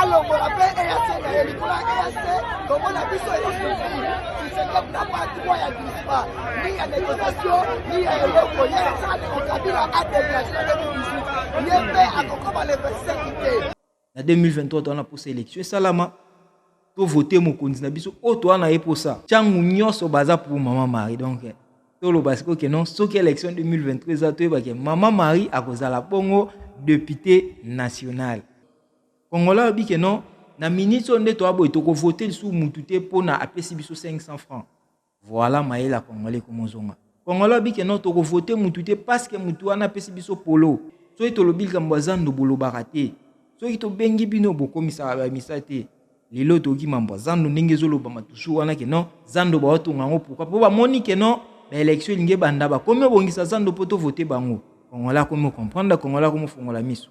alongola mpe eac na ye likolo ya eac tomona biso easusi tisekep na pa droit ya dispa ni ya négociation ni ya eloko ye asala ndeko kabila adegrage na 2018 ye mpe akokoma le 25 te na 2023 toza na mposa élection esalama tovote mokonzi na biso oyo toza na ye mposa ntango nyonso baza pour mama marie donc toloba sikoyo ke non soki élection 2023 eza toyebake mama marie akozala bongo depute nationale Congolais alobi ke non na minute oyo nde toa boye tokovote lisusu mutu te mpona apesi biso 500 francs voilà mayele ya congolais ekomozonga congolais alobi ke non tokovote mutu te paske mutu wana apesi biso polo soki tolobi likambo ya zando bolobaka te soki tobengi bino bokomisaka bamisa te lelo toyoki mambo ya zando ndenge ezolobama toujours wana ke non zando baotonga yango pourkui mpo bamoni ke non baélection elingi ebanda bakomi obongisa zando mpo tovote bango congolais akomi okomprendre congolais akomi ofongola miso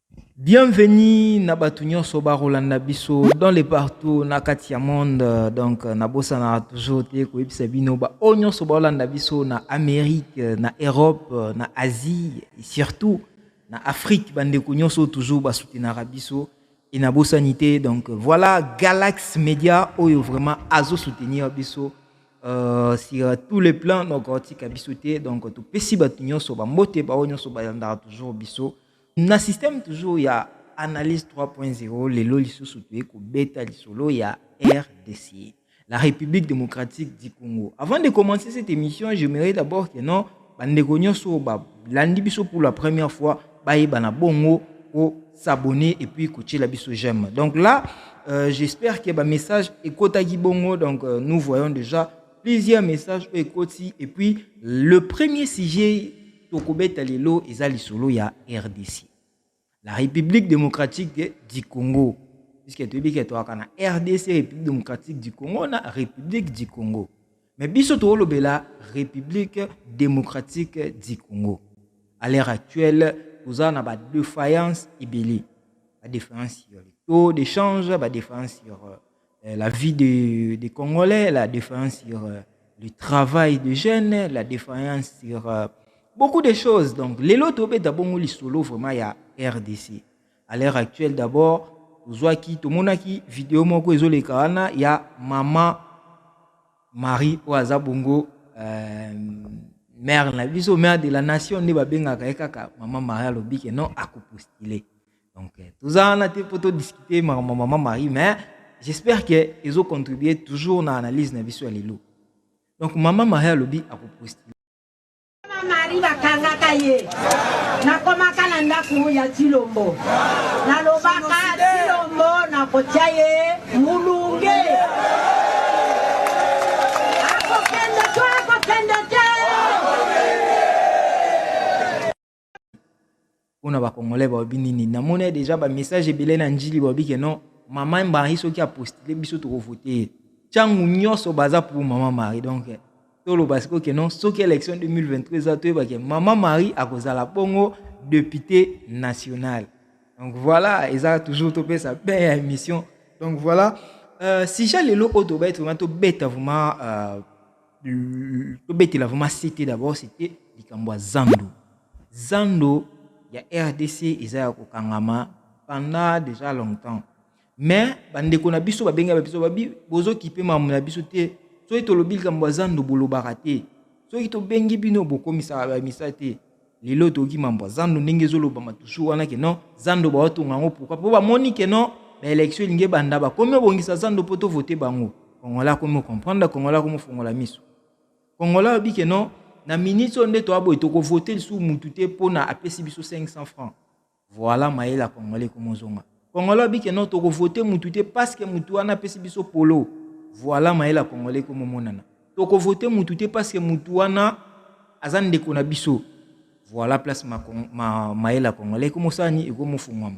Bienvenue na batu nyonso bakolanda biso dans le partout na kati ya monde donc nabosanaka toujours te koyebisa bino baoyo nyonso bakolanda biso na amérique na europe na asie et surtout na afrique bandeko nyonso toujours basutenaka biso e nabosani te donc voilà galax media oyo vraiment azosoutenir biso euh, sur tous les plans donc atika biso te donc topesi bato nyonso bambote baoyo nyonso balandaka toujours biso Na système toujours ya analyse 3.0 lelo lisusu toye kobeta lisolo ya RDC, la République démocratique du Congo. Avant de commencer cette émission, j'aimerais d'abord que non bandeko nyonso balandi biso pour la première fois bayeba na bongo ko s'abonner et puis kotiela biso j'aime. Donc là, euh, j'espère que ba message ekotaki bongo donc euh, nous voyons déjà plusieurs messages ekoti et puis le premier sujet Tokobeta lelo eza lisolo ya rdc, la Republique democratique du Congo, puisque toyebi ke toyaka na rdc, Republique democratique du Congo, na Republique du Congo. Mais biso tokolobela Republique democratique du Congo. À l'heure actuelle, toza na ba defiance ebele, ba defiance sur le taux d'échange, ba defiance sur euh, euh, la vie des de Congolais, la défaillance sur euh, le travail de jeunes, la défaillance sur euh, beaucoup de choses. Donc, les lots tobé d'abord les solo vraiment il y a RDC. À l'heure actuelle d'abord, tozwaki tomonaki video moko ezoleka wana ya mama marie oyo aza bongo euh, mère na biso mère de la nation nde babengaka ye kaka mama marie alobi ke non akopostile donc euh, toza wana te mpo todiscute makambo ya mama marie mais j'espère que ezocontribue toujours na analyse na biso ya lelo donc mama marie alobi akopostile marie bakangaka ye nakomaka na ndako ya tilombo nalobaka tilombo nakotya ye mulunge pona ba congolais ba obi nini na mona deja ba message ebele na njili ba obi ke non mama mbangi soki a postule biso toko voter changu nyoso baza pour mama Marie donc tolo ba siko ke non soki election 2023 za to ba ke mama Marie akozala bongo député national donc voilà eza toujours to pesa ben ya émission donc voilà euh, si j'ai le lot auto ba être vraiment to beta vraiment euh, tobetela vraiment sete d'abord sete likambo ya zando zando ya rdc eza ya kokangama pendant déjà longtemps mais bandeko na biso babenga ba biso babi bozokipe mamu na biso te soki tolobi likambo ya zando bolobaka te soki tobengi bino bokomisaka bamisa te Lelo toyoki mambo ya zando ndenge ezolobama toujours wana ke non zando baotonga yango pourquoi mpo bamoni ke non baelection elingi ebanda bakomi obongisa zando mpo tovote bango kongola akomi okomprendre kongola akomi ofongola miso kongola ayobi ke non na minute oyo nde toya boye tokovote lisusu mutu te mpona apesi biso 500 francs Voilà mayele ya congolais komo zonga. Congolais abike non toko voter mutu te parce que mutu wana apesi biso polo. Voilà mayele ya congolais komo monana. Toko voter mutu te parce que mutu wana aza ndeko na biso. Voilà place ma, ma mayele ya congolais komo sani ekomo fungwama.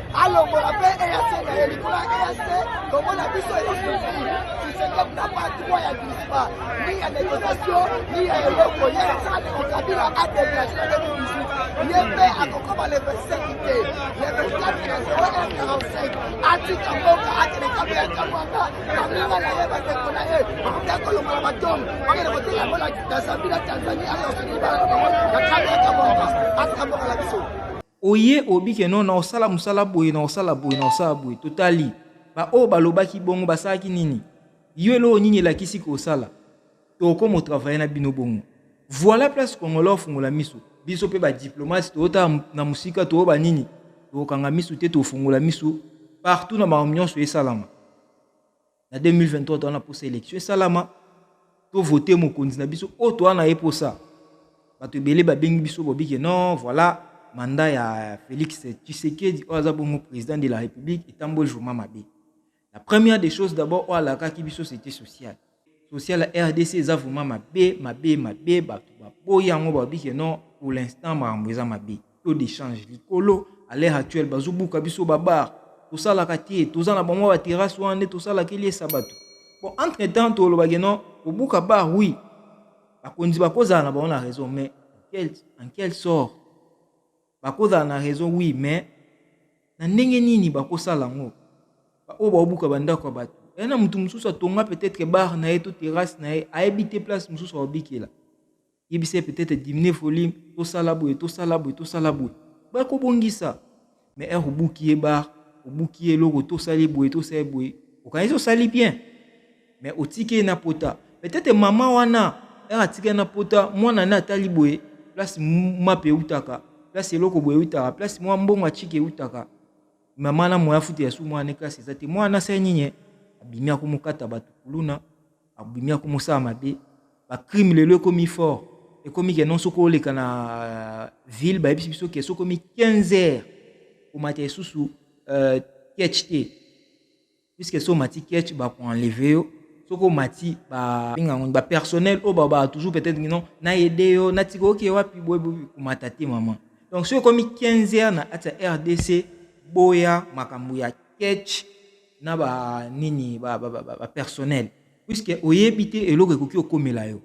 alongola mpe EAC na ye likolo ya EAC tomona biso elosusu tisekep na pa droit ya dispa ni ya négociation ni ya eloko ye asala ndeko kabila adegrage na 2018 ye mpe akokoma le 25 te le 24 na 0145 atika mboka akende kambo ya kamwanga baninga na ye bandeko na ye bakoki akolongola batongo bakende kotika yango na zambie na tanzanie ayosoki bana na bango na kambo ya kamwanga atika mboka na biso Oye obike no na osala mosala boye na osala boye na osala boye totali baoyo balobaki bongo basalaki nini yo eloko nini elakisi kosala tokoma otravaye na bino bongo voilà place congolais ofungola miso biso mpe badiplomate toyota na mosika toyoba nini tokanga miso te tofungola miso partout na makambo nyonso esalama na 2023 toza na mposa élection esalama tovote mokonzi na biso oyo toza na ye mposa bato ebele babengi biso bobike non voilà manda ya félix tshisekedi oyo aza bongo président de la république etamboli vraiment mabe la première des choses d'abord oyo alakaki biso c'était social social ya rdc eza vraiment mabe mabe mabe bato baboyi yango babike non pour l'instant makambo eza mabe taux d'échange likolo à l'heure actuelle bazobuka biso babar tosalaka te toza na bamwa baterrasse wana nde tosalaka eliesa bato bon entre temps tolobaki non kobuka bar oui bakonzi bakozala na bango na raison mais quel, en quel sort bakozala na raison oui mais na ndenge nini bakosala yango baoyo baobuka bandako ya bato aya na moto mosusu atonga peut-être bar na ye to terrasse na ye ayebi te place mosusu aobikela yebisa ye peut-être diminuer volume tosala boye tosala boye tosala boye bakobongisa mais heure obuki ye bar obuki ye eloko tosali boye tosali boye okanisi osali bien mais otiki ye na pota peut-être mama wana heure atiki ye na pota mwana ne atali boye place mape eutaka place eloko boye eutaka place mwa mbongo atiki eutaka mama na moya futi ya su mwana ne classe eza te mwana asali nini abimi akomokata bato kuluna abimi ako mosala mabe ba crime lelo ekomi fort ekomi ke non soki oleka na euh, ville bayebisi biso ke soki omi 15 heures omata esusu euh, ketch te puisque so omati ketch bakoenleve yo soki omati babengango bapersonnel oyo babaa toujours peut-être non nayede yo natika oke wapi boye komata te mama donc soki ekomi 15 heures na kati ya rdc boya makambo ya ketch na ba nini ba, ba, ba, ba, ba personnel puisque oyebi te eloko ekoki okomela yo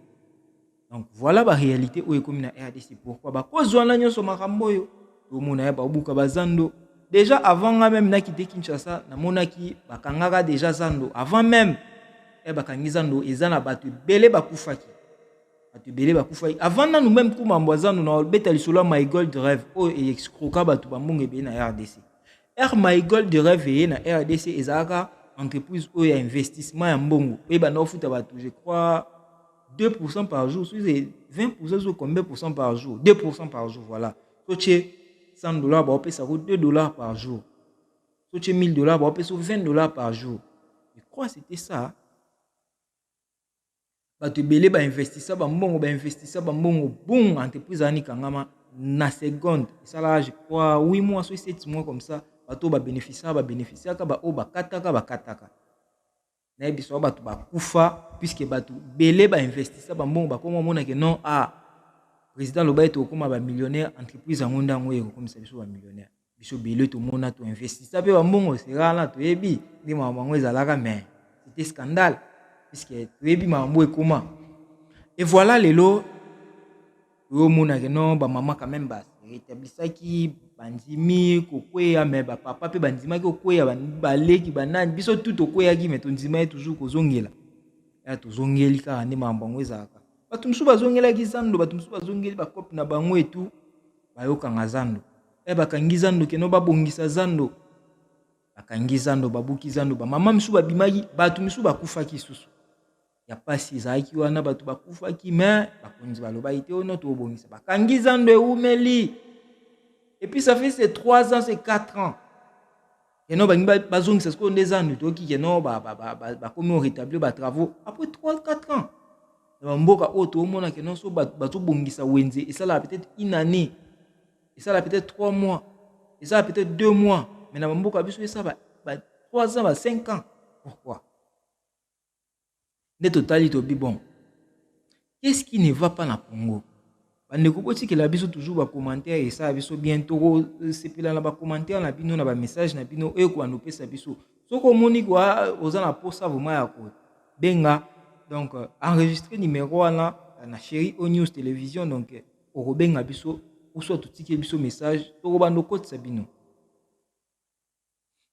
donc voilà ba réalité oyo ekomi na rdc pourquoi bakozwa na nyonso makambo oyo tomona ya babuka bazando déjà avant nga meme nakite kinshasa namonaki bakangaka déjà zando avant meme eh, bakangi zando eza na bato ebele bakufaki bato ebele bakufaki avant nanu meme kumambo azando na obeta lisolo ya my gold rêve oyo eexcroka bato bambongo ebele na rdc Air Marigold de Rêve na RDC ezalaka entreprise oyo ya investissement ya mbongo oyo banda kofuta bato je crois 2% par jour soki 20% soki combien pourcent par jour 2% par jour voilà so tie 100 dollars baopesa ko 2 dollars par jour so tie 1000 dollars baopesa 20 dollars par jour je crois c'était ça bato ebele bainvestisa bambongo bainvestisa bambongo bung entreprise wana ikangama na seconde esalaka je crois 8 mois so 7 mois comme ça bato oyo babénéficiaka babénéficiaka baoyo bakataka bakataka nayebi biso bato bakufa puiske bato bele bainvestisa bambongo bakoma omonake non a ah, président loba ete okoma bamillionnaire entreprise yango nde yango ekokomisa biso bamillionnaire biso bele tomona toinvestisa mpe bambongo sera wana toyebi nde makambo yango ezalaka mais c'était scandale puisque toyebi makambo ekoma e voilà lelo oyomonake no bamama quand même baretablisaki bandimi kokweya me bapapa mpe bandimaki kokweya baleki banani biso tu tokweyaki me tondimaki toujours kozongela ya tozongeli kaka nde makambo yango ezalaka bato mosusu bazongelaki zando bato mosusu bazongeli bakope na bango etu bayokanga zando Eh bakangi zando keno babongisa zando. Bakangi zando, babuki zando, ba mama misu babimaki, batu misu bakufaki susu. Ya pasi ezalaki wana batu bakufaki mais bakonzi balobaki te ono oh tobongisa. Bakangi zando eumeli. Et puis ça fait ces 3 ans, ces 4 ans. Keno bangi bazongisa sikoyo nde zando toyoki keno bakomi o rétablir ba travaux après 3 4 ans. Na bamboka oyo toomona keno so batu batu bongisa wenze esalaka peut-être une année esala peut-être 3 mois esala peut-être 2 mois mais na bamboka biso esala ba, ba 3 ans ba 5 ans pourquoi nde totali tobi bon qu'est-ce qui ne va pas na congo bandeko botikela biso toujours bacommentaire esala biso bien tokosepela na bacommentaire na bino na bamessage na bino oyo ekoanda opesa biso soki omoni kwa oza na mposa vraimen ya kobenga donc enregistre numero wana na chéri o news télévision donc okobenga biso uswa totike biso message tokobanda okotisa bino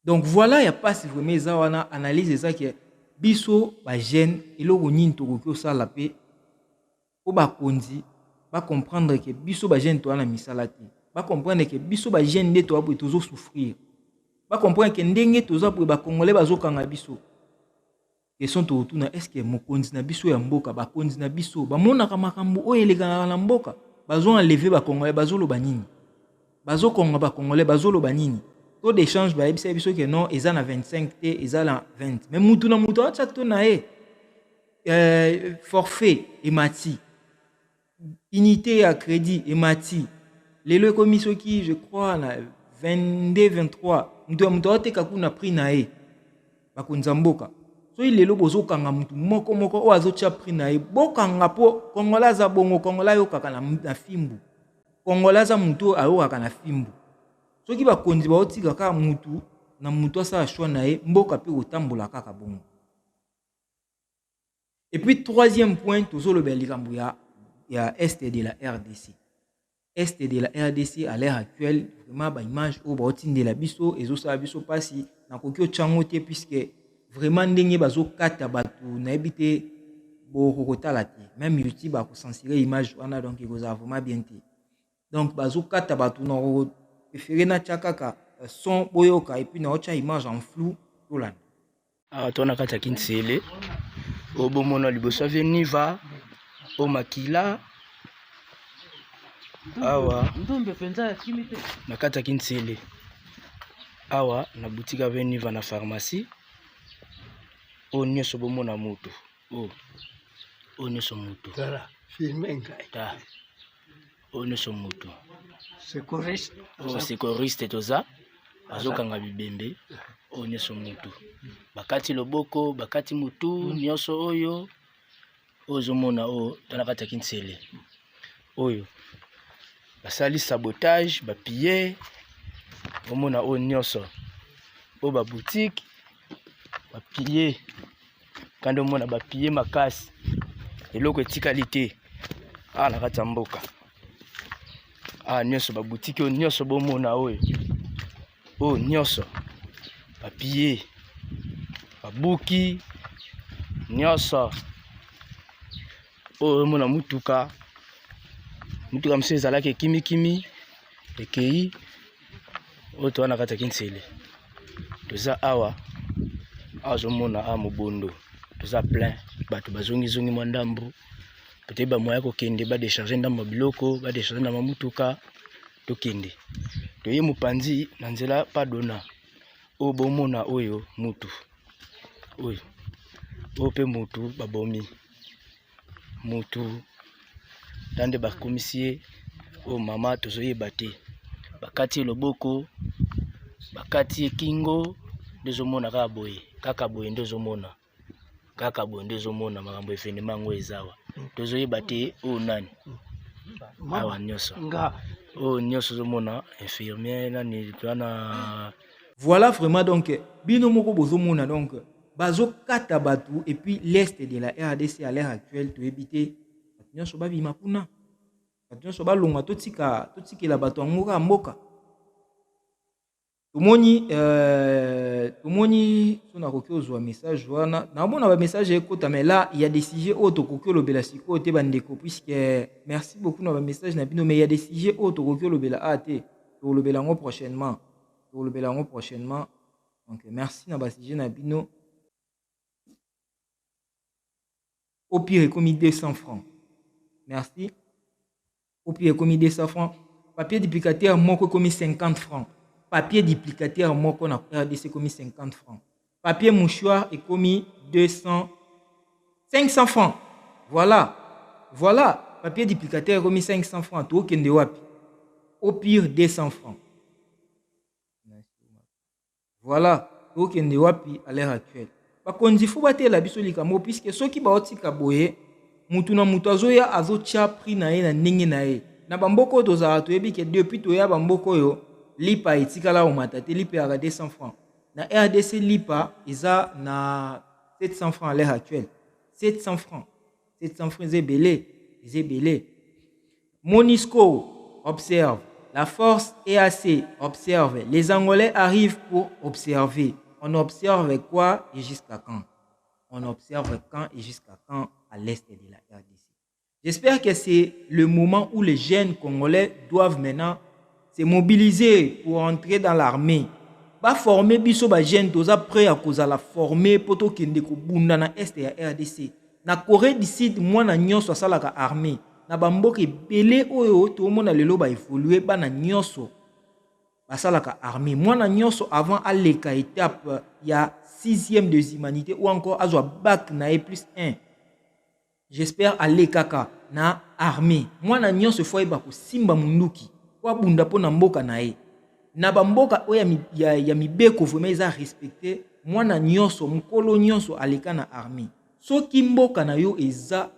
donc voilà ya mpasi vraiment eza wana analyse eza ke biso bajeune eloko nini tokoki kosala mpe mpo bakonzi bacomprendre ke biso bajeune toya na misala te bacomprendre ke biso bajeune nde toya boye tozosouffrir bacomprendre ke ndenge toza boye bacongolais bazokanga biso Question tokotuna est-ce que mokonzi na biso ya mboka bakonzi na biso bamonaka makambo oyo elekanaka na mboka bazo enleve bakongolais bazoloba nini bazokonga bakongolais bazoloba nini taux d'échange bayebisaki biso ke non eza na 25 te eza na 20 mais mutu na mutu atia to na ye euh, forfait emati unite ya credit emati lelo ekomi soki je crois na 22 23 moto ya moto aoteka kuna prix na ye bakonza mboka soki lelo bozokanga motu moko moko oyo azotya prix na ye bokanga mpo kongola aza bongo kongola ayokaka na, na fimbu kongola aza motu oyo ayokaka na fimbu soki bakonzi baotika kaka motu na motu asala shwa na ye mboka mpe kotambola kaka bongo Et puis troisième point, tozolobela likambo ya ya est de la RDC. Est de la RDC à l'heure actuelle, vraiment ba image oyo baotindela biso ezosala biso mpasi nakoki otyango te puisque vraiment ndenge bazokata bato nayebi te bokokotala te même youtube akocensure image wana donc ekozala vraiment bien te donc bazokata bato na prefere natya kaka euh, son boyoka epuis naotya image en flou tolanda awa ah, to na kati ya kinsele oyo bomona liboso avie niva o makila awa na kati ya kinsele awa na boutique avie niva na pharmacie oyo nyonso bomona moto oyo nyonso moto ta oyo nyonso moto secouriste oyo secouriste toza azokanga bibembe oyo nyonso motu bakati loboko bakati motu mm. nyonso oyo oyo ozomona oyo tala kati ya kinsele oyo basali sabotage bapille omona oyo nyonso oyo babutike bapille kande omona bapiye makasi eloko etikali te awa na kati ya mboka awa nyonso babutiki oyo nyonso bomona oyo oyo nyonso bapiye babuki nyonso oyo omona motuka motuka mosusu ezalaki ekimikimi ekei oyo toza na kati ya kinsele toza awa azomona awa mobondo toza plein bato bazongizongi mwa ndambo peut-être bamoya kokende badecharge ndambo ya biloko badecharge ndambo ya motuka tokende toye mopanzi na nzela padona oyo bomona oyo mutu oyo oyo mpe motu babomi motu na nde bakomisi ye oyo mama tozoyeba te bakati ye loboko bakati ye kingo nde ezomona kaka boye kaka boye nde ezomona kaka boye nde ezomona makambo evenema yango ezawa tozoyeba te oyo nani awa nyonso oyo nyonso ozomona infirmier nani wana Voilà vraiment donc bino moko bozomona donc bazokata bato et puis l'est de la rdc à l'heure actuelle toyebi te bato nyonso babima kuna bato nyonso balonga totika totikela bato yango kaka mboka tomoni euh, tomoni so nakoki ozwa message wana naomona bamessage ekota mais là ya des sujets oyo tokoki olobela sikoyo te bandeko puisque merci beaucoup na bamessage na bino mais ya des sujets oyo tokoki olobela a te tokolobela yango prochainement tokolobela yango prochainement donc merci na basujet na bino au pire ekomi 200 francs merci au pire ekomi 200 francs papier duplicateur moko ekomi 50 francs papier duplicateur moko na rdc ekomi 50 francs papier mouchoir ekomi 200 500 francs voilà voilà papier duplicateur ekomi 500 francs tokende wapi au pire 200 francs voilà tokende wapi à l'heure actuelle bakonzi fo batela biso likambo puiske soki baotika boye motu na motu azoya azotya prix na ye na ndenge na ye na bamboka oyo tozalaka toyebi ke depuis toya bamboka oyo lipa etikala omata te lipa eyaka 200 francs Na rdc lipa eza na 700 francs à l'heure actuelle. 700 francs. 700 francs eza ebele, eza ebele. Monisco observe. La force EAC observe. Les Angolais arrivent pour observer. On observe quoi et jusqu'à quand On observe quand et jusqu'à quand à l'est de la RDC. J'espère que c'est le moment où les jeunes congolais doivent maintenant se mobiliser pour entrer dans l'armée. Ba former biso ba jeunes toza prêt à kozala former po to kende ko bunda na est ya RDC. Na Corée du Sud mwana nyonso asalaka armée. Na ba mboka ebele oyo tomona lelo ba évoluer bana nyonso basalaka armée. Mwana nyonso avant aleka étape ya 6e des humanités ou encore azwa bac na ye plus 1 J'espère aller kaka na armee. Mwana nionso faut ayeba ko simba munduki po abunda po na mboka na ye. Na ba mboka oyo ya, ya, ya mibeko vraiment eza respecte, mwana nionso, mukolo nionso aleka na armee. Soki mboka na yo eza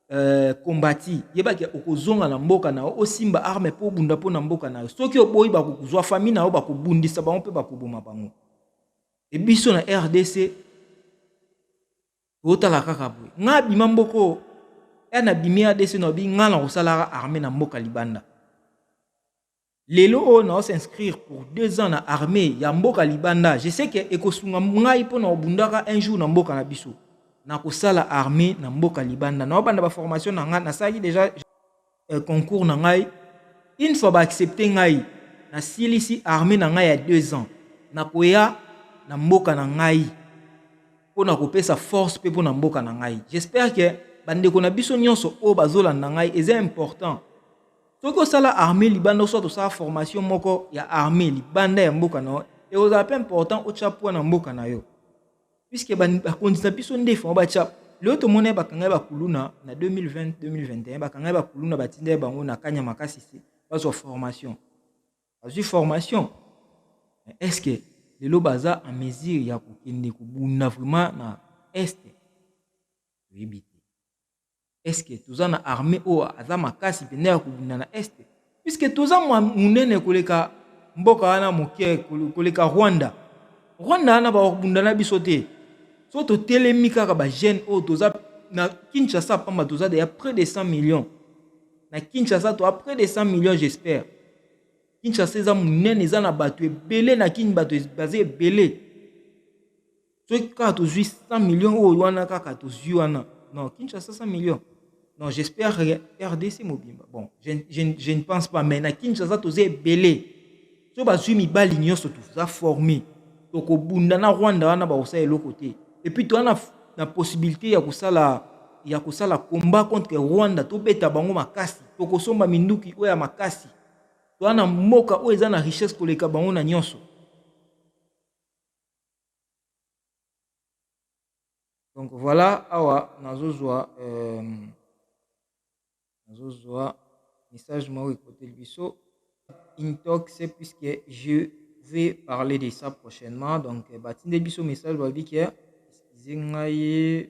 euh, combati, yeba ke okozonga na mboka na yo, osimba arme po obunda po na mboka na yo. Soki oboyi bakozwa famille na yo, bakobundisa bango pe bakoboma bango. E biso na RDC Otala kaka boye. Nga bima mboko ya na bimi ADC na bi nga na kosalara armée na mboka libanda. Lelo oyo na s'inscrire pour deux ans na armée ya mboka libanda. Je sais que ekosunga ngai mpo na obundaka un jour na mboka na biso. Na kosala armée na mboka libanda. Na obanda ba formation na nga nasalaki déjà eh, concours na ngai une fois ba accepter ngai na silisi armée na ngai ya 2 ans na koya na mboka na ngai mpo na kopesa force mpe mpo na mboka na ngai j'espère que bandeko na biso nyonso oyo bazolanda ngai eza important soki osala armée libanda oswat osala formation moko ya armée libanda ya mboka na yo ekozala mpe important otya poids na mboka na yo puisque bakonzi na biso nde fama batya lelo tomona ye bakanga ye bakuluna na 2020 2021 bakanga ye bakuluna batinda ye bango na kanya makasi se bazwa formation bazwi formation est ce que lelo baza en mesure ya kokende kobunda vraiment na este toyebi te Est-ce que toza na armée oyo aza makasi mpenza ya kobunda na Est? Puisque toza mwa monene koleka mboka wana moke koleka Rwanda. Rwanda wana bakobunda na biso te. So totelemi kaka ba jeunes oyo toza na Kinshasa pamba toza deya près de 100 millions. Na Kinshasa toza près de 100 millions j'espère. Kinshasa eza monene eza na bato ebele na Kin bato baza ebele. soki kaka tozwi 100 million oyo wana kaka tozwi wana non kinshasa 100 million non j'espère rdc mobimba bon je, je, je ne pense pas mais na kinshasa toza ebele so bazwi mibali nyonso toza forme tokobunda na rwanda wana bakosala eloko te epuis toza na, na possibilité ya kosala ya kosala combat contre rwanda tobeta bango makasi tokosomba minduki oyo ya makasi toza na mboka oyo eza na richesse koleka bango na nyonso donc voilà awa nazozwa euh, nazozwa message moko ekoteli biso intox puisque je vais parler de ça prochainement donc euh, batindeli biso message babi ke excuse ngai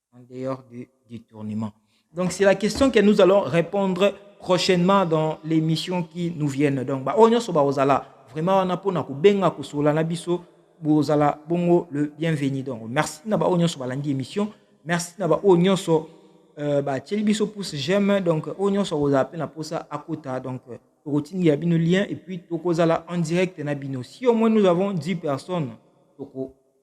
en dehors du détournement. Donc c'est la question que nous allons répondre prochainement dans l'émission qui nous viennent. Donc ba onyo so ba ozala vraiment wana pona ko benga ko sola na biso bozala bongo le bienvenu. Donc merci na ba onyo so ba landi émission. Merci na ba onyo so euh, ba tcheli biso pouce j'aime donc onyo so ozala pe na posa akota donc euh, routine ya bino lien et puis tokozala en direct na bino. Si au moins nous avons 10 personnes toko